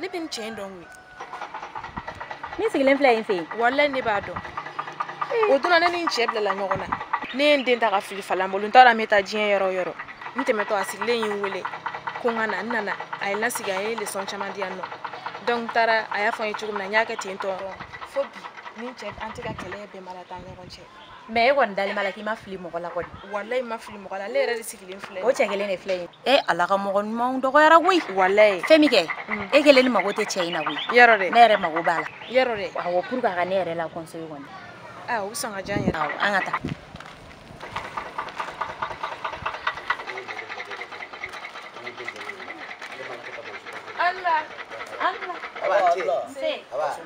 ne bɛ nin cɛ in dɔn koyi min sigilen filɛ yen fɛ yen walayi ne b'a dɔn o don na ne ni n cɛ bilala ɲɔgɔn na ne ye n den ta ka fili falan bolo n t'a dɔn n bɛ taa diɲɛ yɔrɔ o yɔrɔ n tɛmɛtɔ a sigilen ye n wele ko n ka na n nana a ye n lasigi a ye lesɔn caman di yan nɔ donc n taara a y'a fɔ n ye cogo min na n y'a kɛ ten tɔ fo bi ni n cɛ an tɛ ka kɛlɛ bɛnbaliya t'an ɲɔgɔn cɛ mais e kɔni dalen b'a la k'i ma fili mɔgɔ la kɔni walayi ma fili mɔgɔ la ne yɛrɛ de sigilen filɛ o cɛ kelen de filɛ yen e ala ka mɔgɔ ɲumanw dɔgɔyara koyi walayi fɛn min kɛ mm. e kelen ni mago tɛ cɛ in na koyi yɔrɔ dɛ ne yɛrɛ mago b'a la yɔrɔ dɛ awɔ pour que a ka ne yɛrɛ la conseil kɔni o bɛ sɔn ka diya n yɛrɛ awɔ an ka taa Allah Allah Allah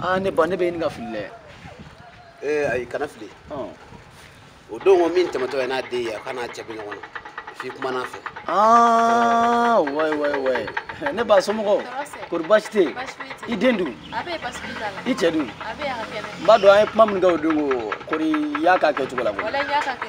aa ne ba ne bɛ ɲini ka fili dɛ ee ayi kana fili o don ko min tɛmɛtɔ ye n'a den ye a k'a n'a cɛ bɛ ɲɔgɔn na f'i kumana a fɛ aa wayi wayi wayi ne ba somɔgɔw kori baasi tɛ yen i den dun i cɛ dun n b'a dɔn an ye kuma minnu kɛ o don ko kori i y'a k'a kɛcogo la koyi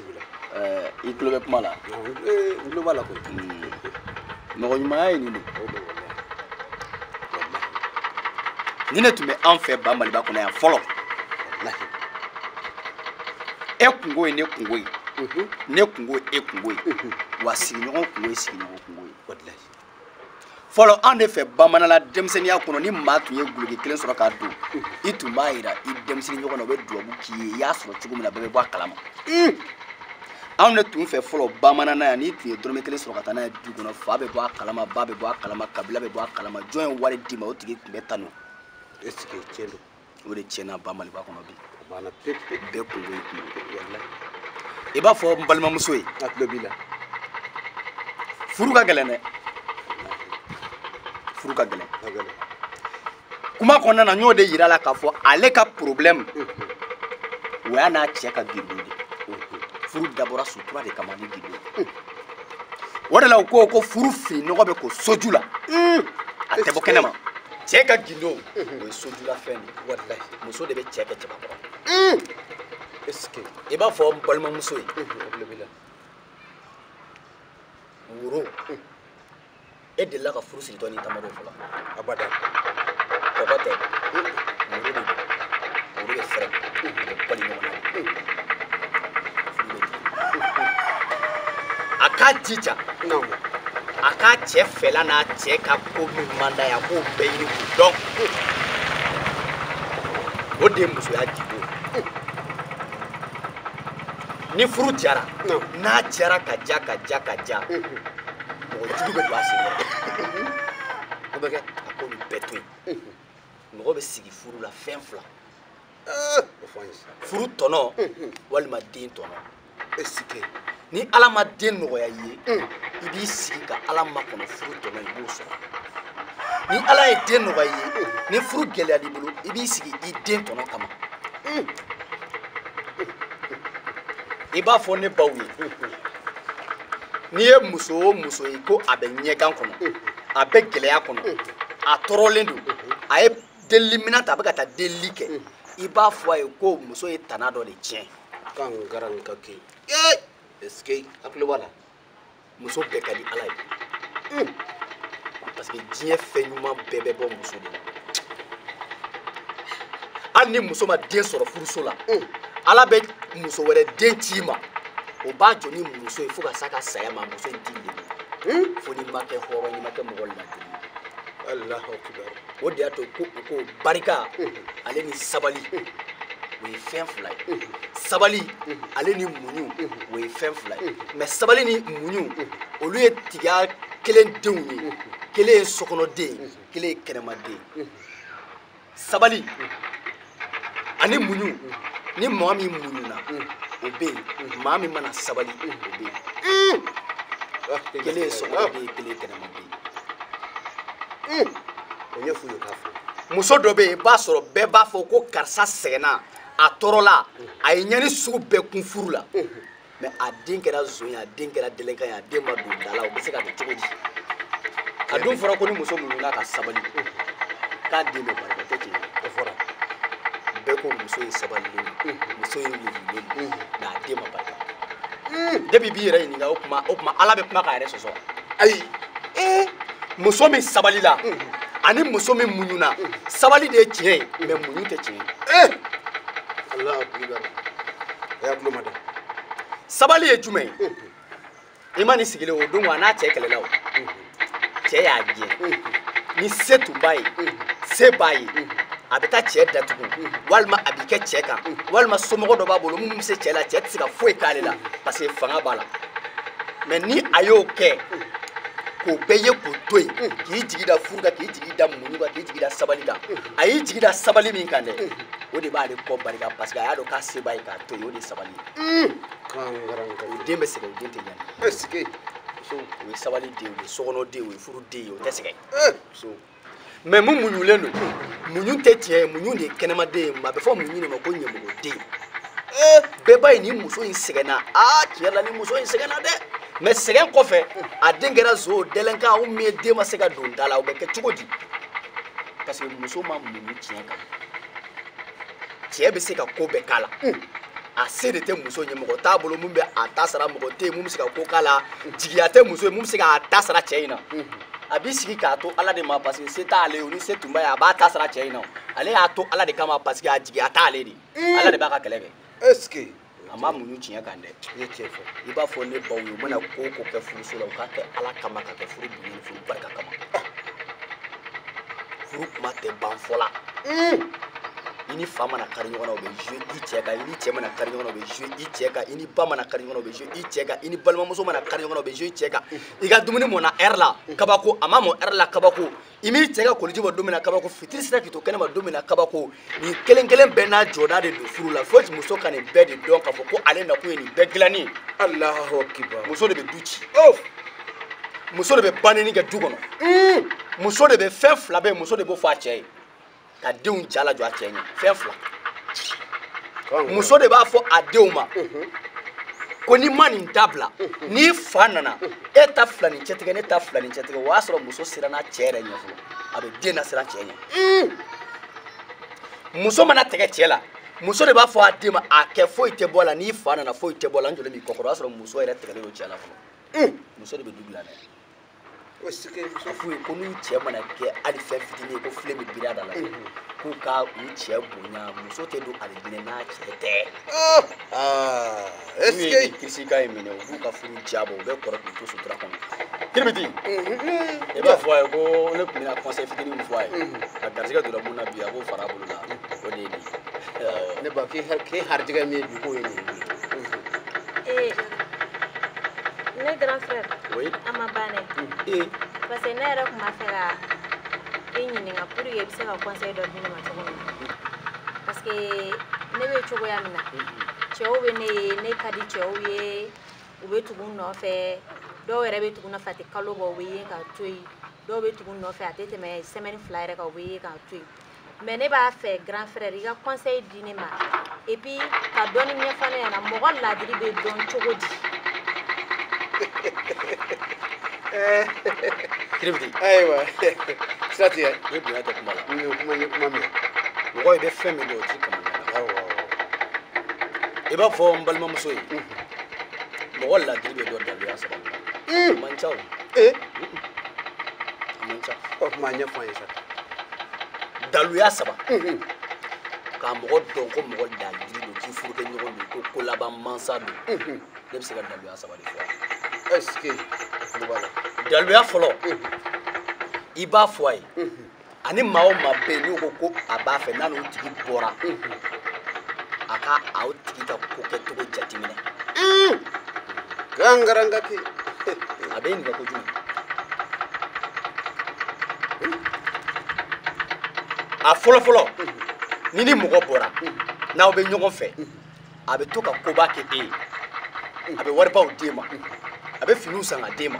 i tulo bɛ kuma la n tulo b'a la koyi mɔgɔ ɲumanya ye nin de nin de tun bɛ an fɛ ba maliba kɔnɔ yan fɔlɔ e kungo ye ne kungo ye ne kungo ye e kungo ye wa sigiɲɔgɔn kungo ye sigiɲɔgɔn kungo ye fɔlɔ an de fɛ bamananla denmisɛnninya kɔnɔ ni maa tun ye guloki kelen sɔrɔ k'a don i tun b'a yira i denmisɛnnin ɲɔgɔn na o bɛ dubabu k'i ye i y'a sɔrɔ cogo min na bɛɛ bɛ bɔ a kalama anw de tun fɛ fɔlɔ bamananna yan n'i tun ye dɔrɔmɛ kelen sɔrɔ ka taa n'a ye du kɔnɔ fa bɛ bɔ a kalama ba bɛ bɔ a kalama kabila bɛ bɔ a kalama jɔn ye wari d'i ma o tigi tun bɛ tanu est ce que tiɲɛ don o de tiɲɛna ba maliba kɔnɔ bi bɛɛ kungo y'i kungo i b'a fɔ n balimamuso ye a tulo b'i la furu ka gɛlɛn dɛ furu ka gɛlɛn kuma kɔnɔna na n y'o de yira a la k'a fɔ ale ka problème o y'a n'a cɛ ka gindo de furu dabɔra sutura de kama ni gindo o de la u ko ko furu fini nɔgɔ bɛ ko soju la a tɛ bɔ kɛnɛ ma cɛ ka gindo o ye sojulafɛn de walayi muso de bɛ cɛ kɛ cɛbakɔrɔ est ce que i b'a fɔ n balimamuso ye woro e delila ka furu siritɔ ni tamaro fɔlɔ abada kɔkɔ tɛ woro de don woro bɛ fɛrɛ u bɛ bari ɲɔgɔn na furu bɛ a k'a jija a k'a cɛ fɛla n'a cɛ ka ko min man d'a ye a k'o bɛɛ ɲini k'o dɔn o de ye musoya gindo ni furu jara n'a jara ka ja ka ja ka ja mɔgɔ jugu bɛ don a sen kɔrɔ o bɛ kɛ a k'olu bɛɛ to yen mɔgɔ bɛ sigi furu la fɛn fila furu tɔnɔ walima den tɔnɔ est-ce que ni ala ma den nɔgɔya i ye mm. i b'i sigi ka ala makɔnɔ furu tɔnɔ i b'o sɔrɔ ni ala ye den nɔgɔya i ye mm. ni furu gɛlɛyal'i bolo i b'i sigi i den tɔnɔ kama mm. i b'a fɔ ne baw ye n'i ye muso o muso ye ko a bɛ ɲɛgan kɔnɔ a bɛ gɛlɛya kɔnɔ a tɔɔrɔlen don a ye delili minɛn ta a bɛ ka taa delili kɛ hmm. i b'a fɔ a ye ko muso ye tana dɔ de tiɲɛ kan gara nin ka ke ee est-ce que hakili b'a la muso bɛɛ ka di ala ye hmm. parce que diɲɛ fɛn ɲuman bɛɛ bɛ bɔ muso de la hali ni muso ma den sɔrɔ furuso la hmm. ala bɛ muso wɛrɛ den c'i ma o b'a jɔ ni muso ye fo ka s'a ka saya ma muso in t'i lebu fo n'i ma kɛ hɔrɔn n'i ma kɛ mɔgɔ ladiri ye alahu akibaru o de y'a to ko u ko barika ale ni sabali o ye fɛn fila ye sabali ale ni muɲu o ye fɛn fila ye mais sabali ni muɲu olu ye tigiya kelen denw ye kelen ye sokɔnɔden ye kelen ye kɛnɛmaden ye sabali ani muɲu ni maa min muɲuna o bɛ yen maa min mana sabali o bɛ yen kelen ye sokɔnɔden ye kelen ye kɛnɛmaden ye o ɲɛf'u ye k'a fɔ muso dɔ bɛ yen i b'a sɔrɔ bɛɛ b'a fɔ ko karisa sɛgɛnna a tɔɔrɔla a ye ɲɛni sugu bɛɛ kun furu la mais a den kɛra zon ye a den kɛra delenkan ye a den ma don da la o bɛ se ka kɛ cogo di a dun fɔra ko ni muso muɲuna ka sabali k'a den bɛ barika o tɛ tiɲɛ ye o fɔra bɛɛ ko muso in sabalilen don muso in muɲulen don mais a den ma barika depuis b'i yɛrɛ ɲininka o tuma o tuma ala bɛ kuma k'a yɛrɛ sɔsɔ ayi ee muso min sabalila ani muso min muɲuna sabali de ye tiɲɛ ye mais muɲu tɛ tiɲɛ ye ee ala a y'a tulo ma da sabali ye jumɛn ye i ma nin sigilen o don wa n'a cɛ kɛlɛla o cɛ y'a gɛn ni se tun b'a ye se b'a ye a bɛ taa cɛ datugu walima a b'i kɛ cɛ kan walima somɔgɔ dɔ b'a bolo minnu bɛ se cɛ la cɛ tɛ se ka foyi k'ale la parce que fanga b'a la mais ni a y'o kɛ k'o bɛɛ ye k'o to yen k'i jigi da furu kan k'i jigi da muɲu kan k'i jigi da sabali kan a y'i jigi da sabali min kan dɛ o de b'ale kɔ barika parce que a y'a dɔn k'a se b'a ye k'a to yen o de ye sabali ye o den bɛ sɛgɛn o den tɛ ɲani est ce que o ye sabali den o ye sokɔnɔ den o ye furu den ye o tɛ sɛgɛn mais mun muɲulen don muɲu tɛ tiɲɛ ye muɲu den ye kɛnɛmaden ye a bɛ fɔ muɲu den ma ko ɲamɔgɔden bɛɛ b'a ye nin muso in sɛgɛnna aa tiɲɛ la nin muso in sɛgɛnna dɛ mais sɛgɛn kɔfɛ a den kɛra zon délinquant ou bien den ma se ka don da la o bɛ kɛ cogo di parce que muso ma muɲu tiɲɛ kan cɛ bɛ se ka ko bɛɛ k'a la a se de tɛ muso ye mɔgɔ t'a bolo min bɛ a ta sara mɔgɔ tɛ yen mun bɛ se ka ko k'a la jigiya tɛ muso ye mun bɛ se k'a ta sara cɛ in na a b'i sigi k'a to ala de ma parce que se t'ale ye o ni se tun b'a ye a b'a ta sara cɛ in na ale y'a to ala de kama parce que a jigiya t'ale de ye ala de b'a ka kɛlɛ kɛ. est ce que. a ma muɲu tiɲɛ kan dɛ i ye tiɲɛ fɔ i b'a fɔ ne baw ye u mana ko o ko kɛ furuso la u k'a kɛ ala kama ka kɛ furu bonya ni furu barika kama furu kuma tɛ ban fɔ la i ni fa mana kari ɲɔgɔn na o bɛ jouer i cɛ kan i ni cɛ mana kari ɲɔgɔn na o bɛ jouer i cɛ kan i ni ba mana kari ɲɔgɔn na o bɛ jouer i cɛ kan i ni balimamuso mana kari ɲɔgɔn na o bɛ jouer i cɛ kan i ka dumuni mɔna heure la kabako a ma mɔ heure la kabako i m'i cɛ ka koliji bɔ don min na kabako fitiri sera k'i to kɛnɛma don min na kabako nin kelen kelen bɛɛ n'a jɔda de don furu la fo muso ka nin bɛɛ de dɔn k'a fɔ ko ale nakun ye nin bɛɛ dilanni allahu akbar muso de bɛ du ci oh! muso de bɛ banni kɛ du kɔnɔ hmm! muso de bɛ fɛn fila bɛɛ muso de b'o fɔ a cɛ ye ka denw ja lajɔ a cɛ ɲɛ fɛn fila muso de b'a fɔ a denw ma ko n'i ma nin dabila n'i fa nana e ta fila ni cɛtigɛ ne ta fila ni cɛtigɛ o y'a sɔrɔ muso siranna cɛ yɛrɛ ɲɛ fɔlɔ a bɛ den nasiran cɛ ɲɛ muso mana tɛgɛ cɛ la muso de b'a fɔ a den ma a kɛ foyi tɛ bɔ a la n'i fa nana foyi tɛ bɔ a la n jɔlen b'i kɔkɔrɔ o y'a sɔrɔ muso yɛrɛ tɛgɛlen don cɛ la fɔlɔ muso de bɛ du dilan dɛ est ce que a f'u ye ko n'u cɛ mana kɛ hali fɛn fitinin ye ko filen bɛ biri a da la k'u ka u cɛ bonya muso tɛ don alijinɛ n'a cɛ tɛ n'u ye nin kirisikan in minɛ u b'u ka furu jabɔ u bɛ kɔrɔ k'u to sutura kɔnɔ kiribiti i b'a fɔ a ye ko ne tun bɛna conseil fitinin min fɔ a ye a garisɛgɛ donna mun na bi a b'o fara a bolo la o de ye nin ye ne ba k'i k'i harijɛgɛ min ye bi k'o ye nin ye. ne grand frère. oui. a ma ban dɛ. ee. parce que ne yɛrɛ tun b'a fɛ ka i ɲininka pour que i bɛ se ka conseil dɔ di ne ma cogo min na parce que ne bɛ cogoya min na cɛw bɛ ne ye ne ka di cɛw ye u bɛ tugu n nɔfɛ dɔw yɛrɛ bɛ tugu n nɔfɛ a tɛ kalo bɔ u bɛ ye k'a to yen dɔw bɛ tugu n nɔfɛ a tɛ tɛmɛ semaine fila yɛrɛ kan u bɛ ye k'a to yen. mais ne b'a fɛ grand frère i ka conseil di ne ma et puis ka dɔɔni ɲɛfɔ ne ɲɛna mɔgɔ ladiri bɛ dɔn cogo di kiribiti ayiwa sira tigɛ i ye bonya kɛ kuma la n ye kuma ye kuma mɛn mɔgɔ i bɛ fɛn min dɔn o t'i kanu i b'a fɔ n balimamuso ye mɔgɔ ladiri bɛ dɔn daluya saba la a man ca o a man ca o tuma ɲɛfɔ an ye sa daluya saba ka mɔgɔ dɔn ko mɔgɔ ladiri don k'i furukɛ ɲɔgɔn don ko kolaban mansa don ne bɛ se ka daluya saba de fɔ est-ce que daluya fɔlɔ i b'a fɔ a ye ani maa o maa bɛ yen n'o ko ko a b'a fɛ n'a n'o tigi bɔra a ka aw tigi ka ko kɛcogo jateminɛ gangaranga kɛ a bɛ ɲininka kojugu a fɔlɔfɔlɔ ni ni mɔgɔ bɔra n'aw bɛ ɲɔgɔn fɛ a bɛ to ka koba kɛ e ye a bɛ waribaw d'e ma a bɛ finiw san ka d'e ma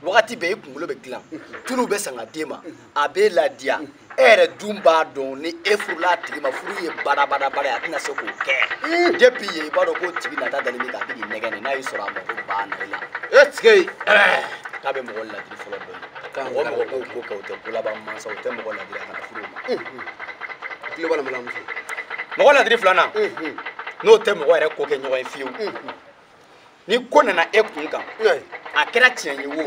wagati bɛɛ i kunkolo bɛ dilan tuluw bɛ san ka d'e ma a b'e ladiya e yɛrɛ dun b'a dɔn ni e furula a tigi ma furu ye badabadabada ye a tɛna se k'o kɛ depuis yen i b'a dɔn k'o tigi nata dalen bɛ k'a bɛ k'i nɛgɛn n'a y'i sɔrɔ a mago banna i la est-ce que k'a bɛ mɔgɔ ladiri fɔlɔ dɔn ye mɔgɔ o mɔgɔ b'o ko kɛ o tɛ kolaban mansa o tɛ mɔgɔ ladiri a kana furu o ma tulo b'a la mɔgɔ ladiri filanan n'o tɛ mɔgɔ yɛrɛ ko kɛ ɲɔgɔn ye fiyewu ni ko nana e kun kan a kɛra tiɲɛ ye wo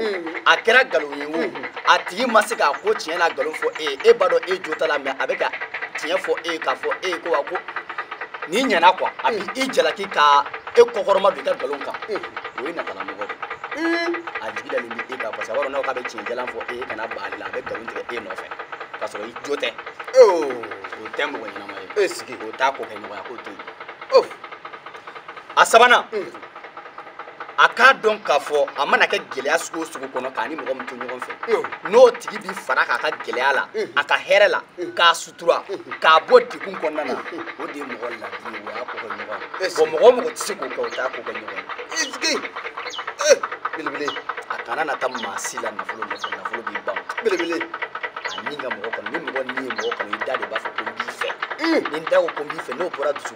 a kɛra nkalon ye wo a tigi ma se k'a ko tiɲɛ n'a nkalon fɔ e ye e b'a dɔn e jo t'a la mais a bɛ ka tiɲɛ fɔ e ye k'a fɔ e ye ko wa ko n'i ɲɛna quoi a bɛ i jalaki ka e kɔkɔrɔmadon i ka nkalon kan o ye natalamɔgɔ de ye a jigi dalen bɛ e kan parce que a b'a dɔn n'a k'a bɛ tiɲɛ jalan fɔ e ye kana ban ale la a bɛ nkalon tigɛ e nɔfɛ k'a sɔrɔ i jo tɛ o tɛ mɔgɔ ɲɛnama ye o t'a ko kɛ ɲɔgɔn ye a k'o to yen a sabanan a k'a dɔn k'a fɔ a mana kɛ gɛlɛya sugu o sugu kɔnɔ k'a ni mɔgɔ min to ɲɔgɔn fɛ n'o tigi bi fara k'a ka gɛlɛya la a ka hɛrɛ la k'a sutura k'a bɔ degun kɔnɔna na o de ye mɔgɔ ladiri ye o y'a ko kɛ ɲɔgɔn ye bon mɔgɔ o mɔgɔ tɛ se k'o kɛ o t'a ko kɛ ɲɔgɔn ye belebele a kana na taa maa si la nafolo nɔfɛ nafolo bi ban belebele a ni ka mɔgɔ kanu ni mɔgɔ ni ye mɔgɔ kanu i da de b'a fɔ ko n b'i fɛ ni n da ko ko n b'i fɛ n'o bɔra dusu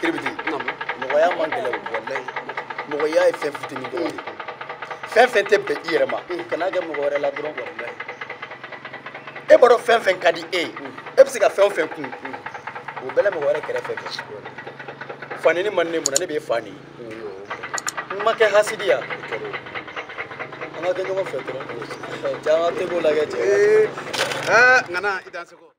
kiribiti mɔgɔya man gɛlɛn walayi mɔgɔya ye fɛn fitinin dɔrɔn de fɛn fɛn tɛ bɛn i yɛrɛ ma kan'a kɛ mɔgɔ wɛrɛ la dɔrɔn walayi e b'a dɔn fɛn fɛn ka di e ye e bɛ se ka fɛn o fɛn kun o bɛɛ la mɔgɔ wɛrɛ kɛrɛfɛ kɛ fa nɛni man ne mun na ne b'e fa nɛni n ma kɛ hasidiya an ka kɛ ɲɔgɔn fɛ dɔrɔn caman tɛ k'o lajɛ cɛ aa ŋana i dan seko